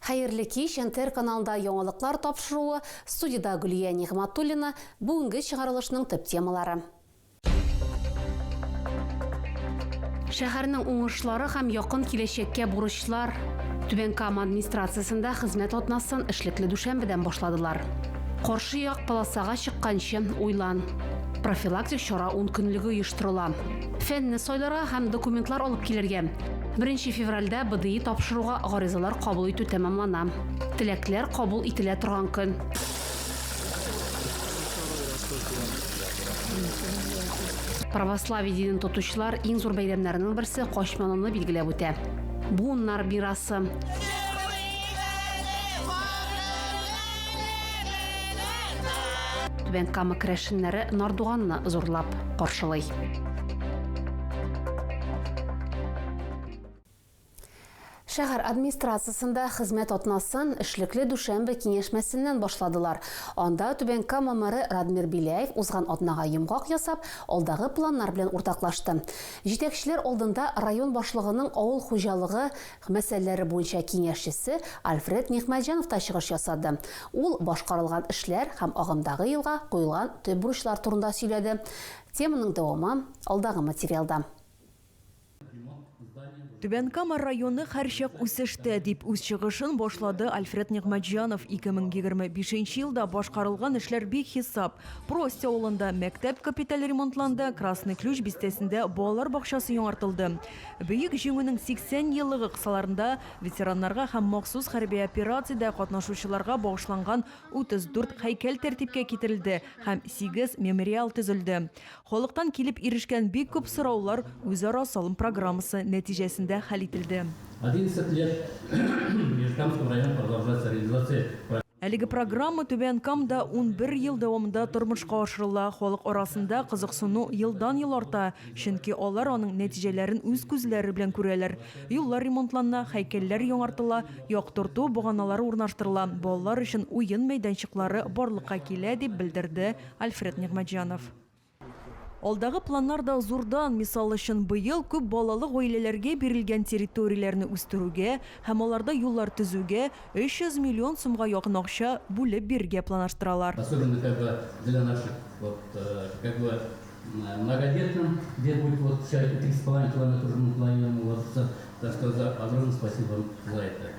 Хәерле кич, НТР каналында яңалыклар тапшыруы, студиядә Гөлия Нигъматуллина, бүгенге чыгарылышның төп темалары. Шәһәрнең уңышлары һәм якын киләчәккә бурычлар Түбән Кама администрациясендә хезмәт атнасын эшлекле дүшәмбедән башладылар. Каршы як полосага чыкканчы уйлан. Профилактик чара ун көнлеге оештырыла. Фәнне сайларга һәм документлар алып килергә. Беренче февральдә БДИ тапшыруга гаризалар кабул итү тәмамлана. Теләкләр кабул ителә торган көн. Православие динен тотучылар иң зур бәйрәмнәренең берсе Качманыны билгеләп үтә. Буыннар мирасы. Түбән Кама керәшеннәре Нардуганны зурлап каршылый. Шәһәр администрациясендә хезмәт атнасын эшлекле дүшәмбе киңәшмәсеннән башладылар. Анда Түбән Кама мэры Радмир Беляев узган атнага йомгак ясап, алдагы планнар белән уртаклашты. Җитәкчеләр алдында район башлыгының авыл хуҗалыгы, мәсьәләләре буенча киңәшчесе Альфред Нигъмәтҗанов та чыгыш ясады. Ул башкарылган эшләр һәм агымдагы елга куелган төп бурычлар турында сөйләде. Теманың дәвамы, алдагы материалда. Түбән Кама районы һәрчак үсештә, дип үз чыгышын башлады Альфред Нигъмәтҗанов. 2025 нче елда башкарылган эшләр бихисап. Прость авылында мәктәп капиталь ремонтланды, Красный Ключ бистәсендә балалар бакчасы яңартылды. Бөек Җиңүнең 80 еллыгы кысаларында ветераннарга һәм махсус хәрби операциядә катнашучыларга багышланган 34 һәйкәл тәртипкә китерелде һәм сигез мемориал төзелде. Халыктан килеп ирешкән бик күп сораулар үзара салым программасы нәтиҗәсендә хәл ителде. Әлеге программа Түбән Камда унбер ел дәвамында тормышка ашырыла, халык арасында кызыксыну елдан-ел арта. Чөнки алар аның нәтиҗәләрен үз күзләре белән күрәләр. Юллар ремонтланна, һәйкәлләр яңартыла, яктырту баганалары урнаштырыла, балалар өчен уен мәйданчыклары барлыкка килә, дип белдерде Альфред Нигъмәтҗанов. Алдагы планнар да зурдан, мисал өчен, быел күп балалы гаиләләргә бирелгән территорияләрне үстерүгә һәм аларда юллар төзүгә 300 миллион сумга якын акча бүлеп бирергә планаштыралар. Многодетным, где будет вот вся эта три с половиной километра уже мы планируем уложиться, так сказать, за огромное спасибо вам за это.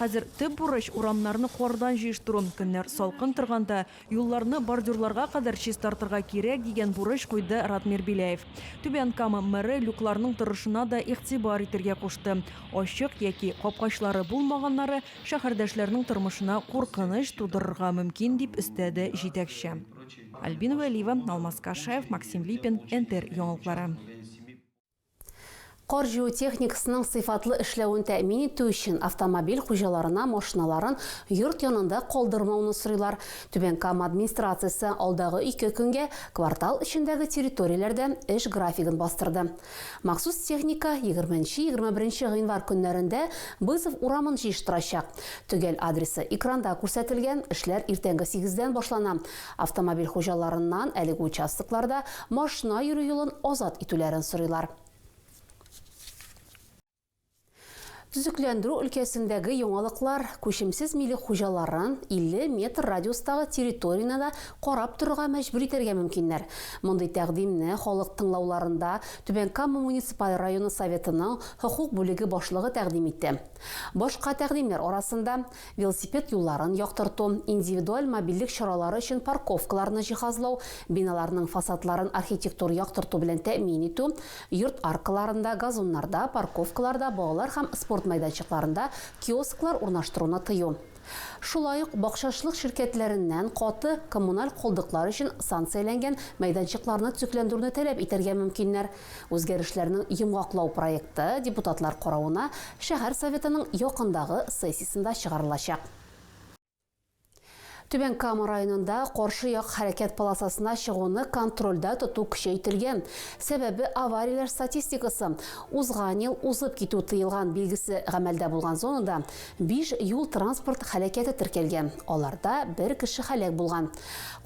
Хәзер төп бурыч, урамнарны кардан җыештыру. Көннәр салкын торганда, юлларны бордюрларга кадәр чистартырга кирәк, дигән бурыч куйды Радмир Беляев. Түбән Кама мэры люкларның торышына да игътибар итергә кушты. Ачык яки капкачлары булмаганнары шәһәрдәшләрнең тормышына куркыныч тудырырга мөмкин, дип өстәде җитәкче. Альбина Вәлиева, Алмаз Кашаев, Максим Липин, НТР яңалыклары. Кар җыю техникасының сыйфатлы эшләвен тәэмин итү өчен автомобиль хуҗаларына машиналарын йорт янында калдырмауны сорыйлар. Түбән Кама администрациясе алдагы ике көнгә квартал эчендәге территорияләрдә эш графигын бастырды. Махсус техника егерме нче-егерме беренче гыйнвар көннәрендә Бызов урамын җыештырачак. Төгәл адресы экранда күрсәтелгән, эшләр иртәнге сигездән башлана. Автомобиль хуҗаларыннан әлеге участокларда машина йөрү юлын азат итүләрен сорыйлар. Төзекләндерү өлкәсендәге яңалыклар күчемсез милек хуҗаларын 50 метр радиустагы территорияне дә карап торырга мәҗбүр итәргә мөмкиннәр. Мондый тәкъдимне халык тыңлауларында Түбән Кама муниципаль районы Советының хокук бүлеге башлыгы тәкъдим итте. Башка тәкъдимнәр арасында, велосипед юлларын яктырту, индивидуаль мобильлек чаралары өчен парковкаларны җиһазлау, биналарның фасадларын архитектур яктырту белән тәэмин итү, йорт аркаларында, газоннарда, парковкаларда, балалар һәм спорт майданчыкларында киосклар урнаштыруны тыю. Шулай ук бакчачылык ширкәтләреннән каты коммуналь калдыклар өчен санкцияләнгән мәйданчыкларны төзекләндерүне таләп итәргә мөмкиннәр. Үзгәрешләрнең йомгаклау проекты депутатлар каравына шәһәр Советының якындагы сессиясендә чыгарылачак. Түбән Кама районында каршы як хәрәкәт полосасына чыгуны контрольдә тоту көчәйтелгән. Сәбәбе аварияләр статистикасы. Узган ел узып китү тыелган билгесе гамәлдә булган зонада биш юл-транспорт хәләкәте теркәлгән, аларда бер кеше хәләк булган.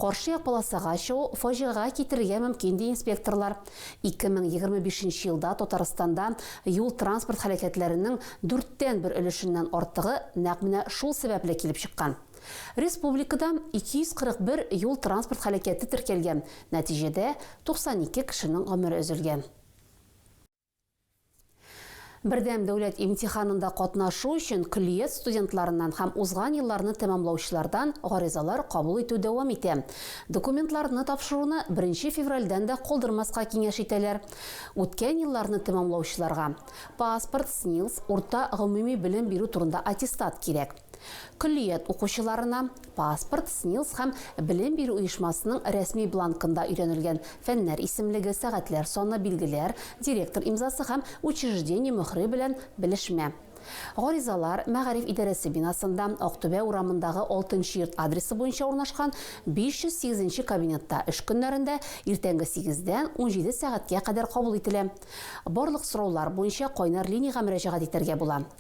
Каршы як полосага чыгу фаҗигагә китерергә мөмкин, ди инспекторлар. 2025 нче елда Татарстанда юл-транспорт һәлакәтләренең дүрттән бер өлешеннән артыгы нәкъ менә шул сәбәпле килеп чыккан. Республикада 241 юл-транспорт һәлакәте теркәлгән, нәтиҗәдә 92 кешенең гомере өзелгән. Бердәм дәүләт имтиханында катнашу өчен көллият студентларыннан һәм узган елларны тәмамлаучылардан гаризалар кабул итү дәвам итә. Документларны тапшыруны беренче февральдән дә калдырмаска киңәш итәләр. Үткән елларны тәмамлаучыларга паспорт, СНИЛС, урта гомуми белем бирү турында аттестат кирәк. Көллият укучыларына, Паспорт, СНИЛС һәм белем бирү оешмасының рәсми бланкында өйрәнелгән фәннәр исемлеге, сәгатьләр саны, билгеләр, директор имзасы һәм учреждение мөһре белән белешмә. Гаризалар мәгариф идарәсе бинасында, Актүбә урамындагы Алтынчы йорт адресы буенча урнашкан 508 нче кабинетта эш көннәрендә иртәнге сигездән унҗиде сәгатькә кадәр кабул ителә. Барлык сораулар буенча кайнар линиягә мөрәҗәгать итәргә була.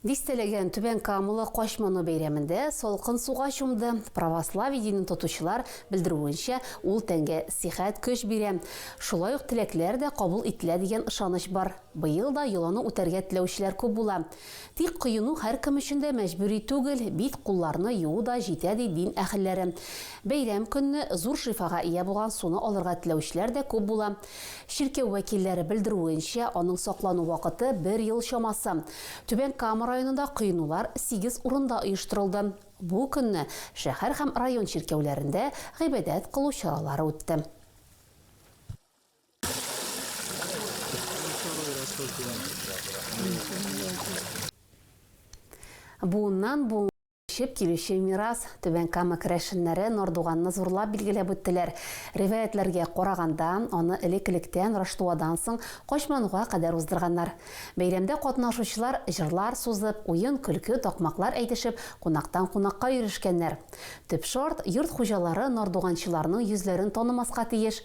Дистәләгән Түбән Камылы качманы бәйрәмендә салкын суга чумды. Православие динен тотучылар белдерүенчә, ул тәнгә сихәт көч бирә. Шулай ук теләкләр дә кабул ителә дигән ышаныч бар. Быел да йоланы үтәргә теләүчеләр күп була. Тик коену һәркем өчен дә мәҗбүри түгел, бит-кулларны юу да җитә, ди дин әһелләре. Бәйрәм көнне зур шифага ия булган суны алырга теләүчеләр дә күп була. Чиркәү вәкилләре белдерүенчә, аның саклану вакыты бер ел чамасы. Түбән Кама районында коенулар сигез урында оештырылды. Бу көнне шәһәр һәм район чиркәүләрендә гыйбадәт кылу чаралары үтте. Буыннан буынга күчеп килүче мирас. Түбән Кама керәшеннәре Нордуганны зурлап билгеләп үттеләр. Риваятьләргә караганда, аны элек-электән Раштуадан соң Качмануга кадәр уздырганнар. Бәйрәмдә катнашучылар җырлар сузып, уен-көлке, такмаклар әйтешеп, кунактан кунакка йөрешкәннәр. Төп шарт, йорт хуҗалары нордуганчыларның йөзләрен танымаска тиеш,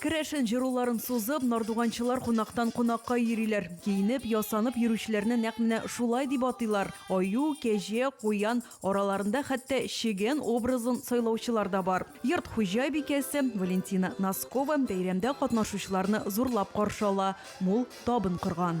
Керәшен җыруларын сузып, нардуганчылар кунактан кунакка йөриләр. Киенеп, ясанып йөрүчеләрне нәкъ менә шулай дип атыйлар. Аю, кәҗә, куян, араларында хәтта чегән образын сайлаучылар да бар. Йорт хуҗабикәсе Валентина Носкова бәйрәмдә катнашучыларны зурлап каршы ала, мул табын корган.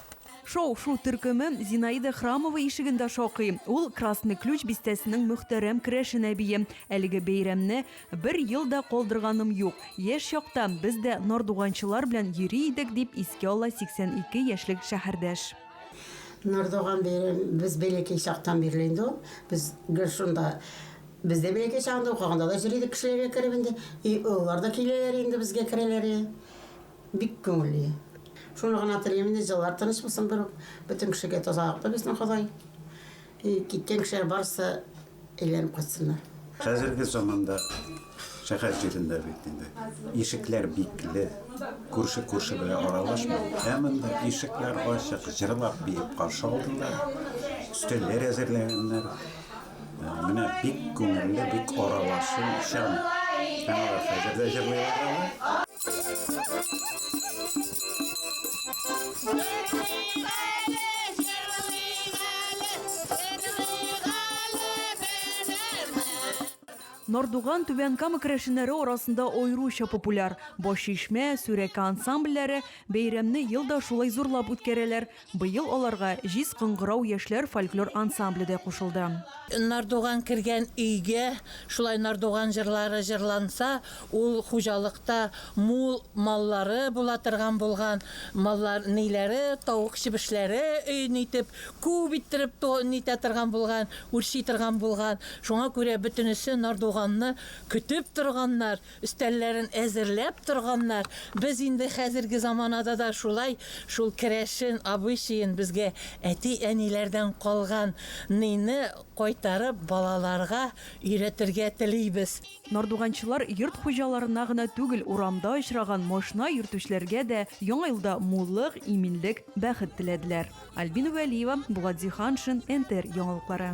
Шау-шу төркеме Зинаида Храмова ишегендә шакый. Ул Красный ключ бистәсенең мөхтәрәм керәшен әбие. Әлеге бәйрәмне бер ел да калдырганым юк. Яшь чакта без дә нардуганчылар белән йөри идек, дип искә ала 82 яшьлек шәһәрдәш. Нардуган бәйрәме без бәләкәй чактан бирле инде ул. Без гел шунда, без дә бәләкәй чагында укыганда да йөри идек кешеләргә кереп инде. И олылар да киләләр инде безгә керәләре. Бик күңелле. Шуны гына телим инде, җылылар тыныч булсын берүк. Бөтен кешегә тазалыкны бирсен Ходай. И киткән кешеләр барысы әйләнеп кайтсыннар. Хәзерге заманда шәһәр җирендә бит инде ишекләр бикле, күрше күрше белән аралашмый. Ә монда ишекләр ачык, җырлап-биеп каршы алдылар, өстәлләр әзерләгәннәр, Менә бик күңелле, бик аралашу, чын. Алар хәзер дә җырлыйлар аны. Нордуган Түбән Кама керәшеннәре арасында аеруча популяр. Башчишмә, Сүрәкә ансамбльләре бәйрәмне ел да шулай зурлап үткәрәләр. Быел аларга Җиз кыңгырау яшьләр фольклор ансамбле дә кушылды. Нардуган кергән өйгә шулай нардуган җырлары җырланса, ул хуҗалыкта мул маллары була торган булган, маллар ниләре, тавык-чебешләре өен итеп, күп иттереп то нитә торган булган, үрчи торган булган. Шуңа күрә бөтенесе нардуганны көтеп торганнар. Өстәлләрен әзерләп торганнар. Без инде хәзерге заманада да шулай, шул керәшен обычаен безгә әти-әниләрдән калган ныйны кайтарып балаларга өйрәтергә телибез. Нардуганчылар йорт хуҗаларына гына түгел, урамда очраган машина йөртүчеләргә дә Яңа елда муллык, иминлек, бәхет теләделәр. Альбина Вәлиева, Булат Зиһаншин, НТР яңалыклары.